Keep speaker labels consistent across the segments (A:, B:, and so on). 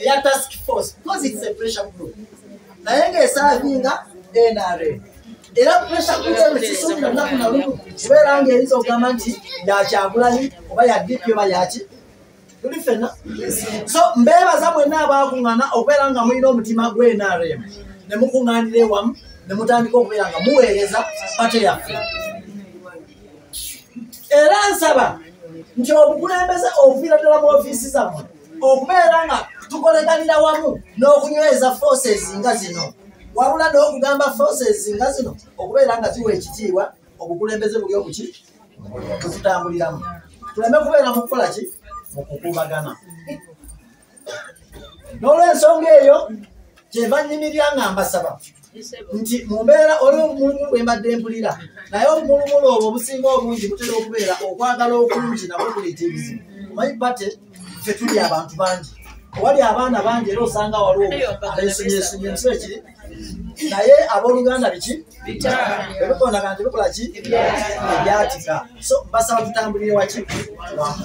A: eya task force because it's a pressure group naye ng'esaavinga nrm era pressure group eno sisuubira lunaku na lumu kubeera ng'eyinza okugamba nti yakyagulanyi oba ya dp oba yaki tuli fena so mbeebaza mwenna abaakuŋŋana okubeera nga mulina omutima gwe nrm ne mukuŋŋanira ewamu ne mutandika okubeera nga muweereza pate yaffe era nsaba nti obukulembeze obuviira ddala mu ofiisi zammwe okubeera nga tukoleganira wamu n'okunyweza forces nga zino wabula n'okugamba forces nga zino okubeera nga ziwa ekitiibwa obukulembeze buli obuki bwetutambuliramu tuleme kubeera mu kukola ki mu kukuubagana n'olwensonga eyo kyeva nyimirya nga mbasaba nti mu mbeera oli obumulumulu bwe mbadde mpulira naye obumulumulu obwo obusinga obungi butera okubeera okwagala okungi nabwo kuleeta ebizibu omanyi bate ffe tuli abantu bangi owali abaana bangi era osanga waliwo abesunyesunye nsi ekiri naye abooluganda biki ebikonaga nti bikola ki ebyatika so mbasaba tutambulire waki wamu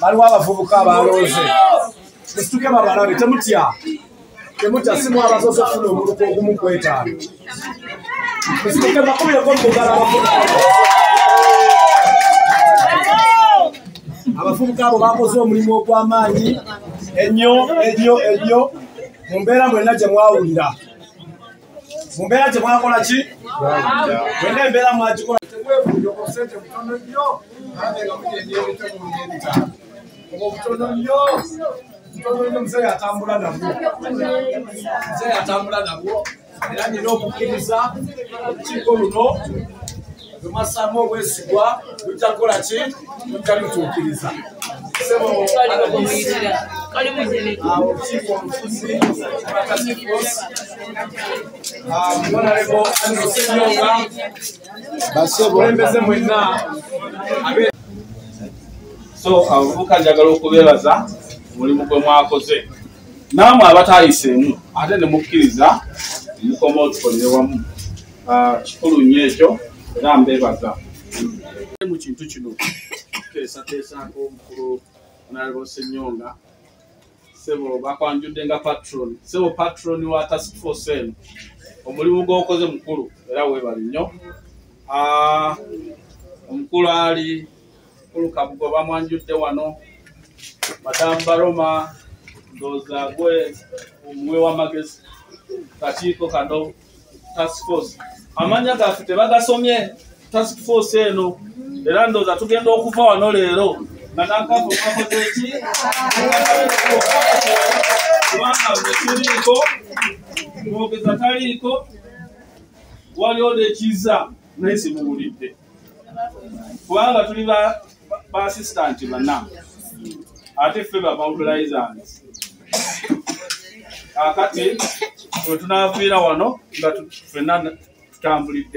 B: baliwo abavubuka abalooze musituke babalabe temutya temutya simu abasoose funa omuluka ogumu kwetaano musituke bakubireko mugala abavubuka abo bakoze omulimu ogw'amaanyi ennyo ennyo ennyo mu mbeera mwenna gye mwawulira mu mbeera gye mwakola ki wena embeera mwagikola obutono nnyo omuzeeyi atambula nabwo muzeeyi atambula nabwo era nina okukkiriza olukiiko luno bwemwassaamu obwesigwa lujja kukola ki lujja lutuukiriza basebokulembeze mwenna
C: so abavubuka njagala okubeebaza omulimu gwe mwakoze naamwe abatayiseemu ate ne mukkiriza mukoma otukolere wamu ah, kikulu nnyo ekyo era mbebaza mu kintu kino tuteesateesaako omukulu onalaba osenyonga sebo bakwanjudde nga patron sebo patron wa task force eno omulimu gwokoze mukulu era webali nnyo ah, omukulu ali mukulu kabugo bamwanjudde wano madamu baroma ndoza gwe omuwe wamagezi kakiiko kano task force amanya gaffe tebagasomye task force eno era ndooza tugenda okuva wano leero nga nakafu kakoze eki kubanga ekiriiko mwogeza taliiko waliwo nekiza naye simuwulidde kubanga tuli ba assistant bana ate ffe ba mobilizers akati wetunaviira wano nga fenna tutambulidde